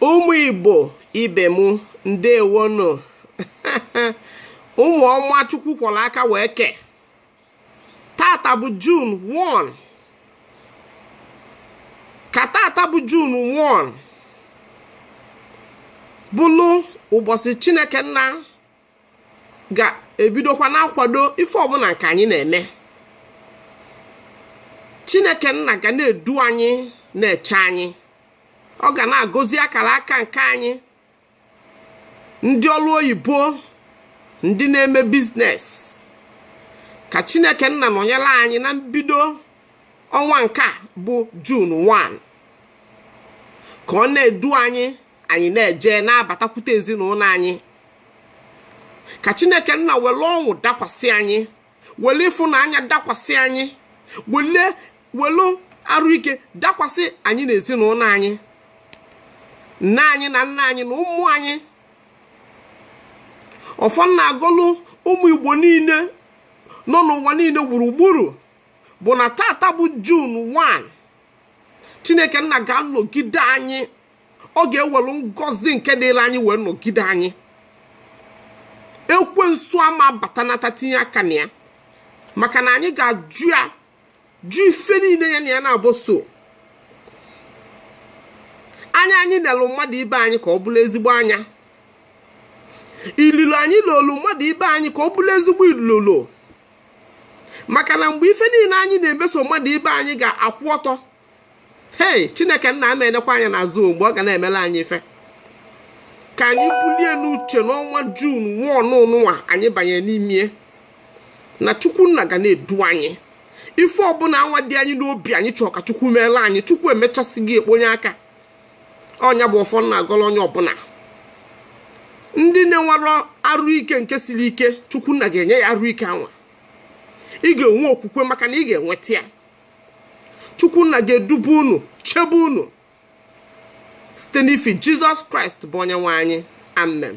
ụmụ igbo ibe m ndewonụ ụmụ ọma chukwu kwọrọ aka wee kee tata bụ jun 1 ka tata bụ jun 1 bụlụ ụbọchị chineke nna ga-ebidokwa na-akwado ife ọbụla nke anyị na-eme chineke nna ga na-edu anyị na-eche anyị ọ ga na-agọzi akara aka nke anyị ndị ọrụ oyibo ndị na-eme biznes ka chineke nna nọnyere anyị na mbido ọnwa nke a bụ jun 1 ka ọ na-edu anyị anyị na-eje na-abatakwute ezinụlọ anyị ka chineke nna were ọṅụ dakwasị anyị were ịfụnanya dakwasị anyị were arụ ike dakwasị anyị na ezinụlọ anyị nne anyị na nna anyị na ụmụ anyị ọfọ m na-agọlụ ụmụ igbo niile nọ n'ụwa niile gburugburu bụ na tata bụ jun 1 chineke nna ga-anọgide anyị ọ ga-ewelu ngọzi nke dịrị anyị wee nọgide anyị ekwensu ama batanata tinye aka na ya maka na anyị ga-ajụ ya jụ ife niile ya na ya na-abụ so anya anyị nelu mmadụ ibe anyị ka ọ bụrụ ezigbo anya ilolo anyị lolu mmadụ ibe anyị ka ọ bụrụ ezigbo ilolo maka na mgbe ife niile anyị na-emeso mmadụ ibe anyị ga-akwụ ọtọ hei chineke nna ama enekwa anya n'azụ mgbe ọ ga na-emere anyị ife ka anyị bulu ya n'uche n'ọnwa jun 1 nụnwa anyị banye n'ime ya na chukwu nna ga na-edu anyị ife ọbụla anwa dị anyị n'obi anyị chọọ ka chukwu meelụ anyị chukwu emechasị gị ekponye aka ọ nya bụ ọfọ m na-agọlụ onye ọbụla ndị na-enwerọ arụ ike nke siri ike chukwu nna ga-enye ya arụ ike anwa ị ga-enwe okwukwe maka na ị ga-enweta ya chukwu nna ga-edube unu chebe unu site n'ifi jizọs kraịst bụ onye nwe anyị amen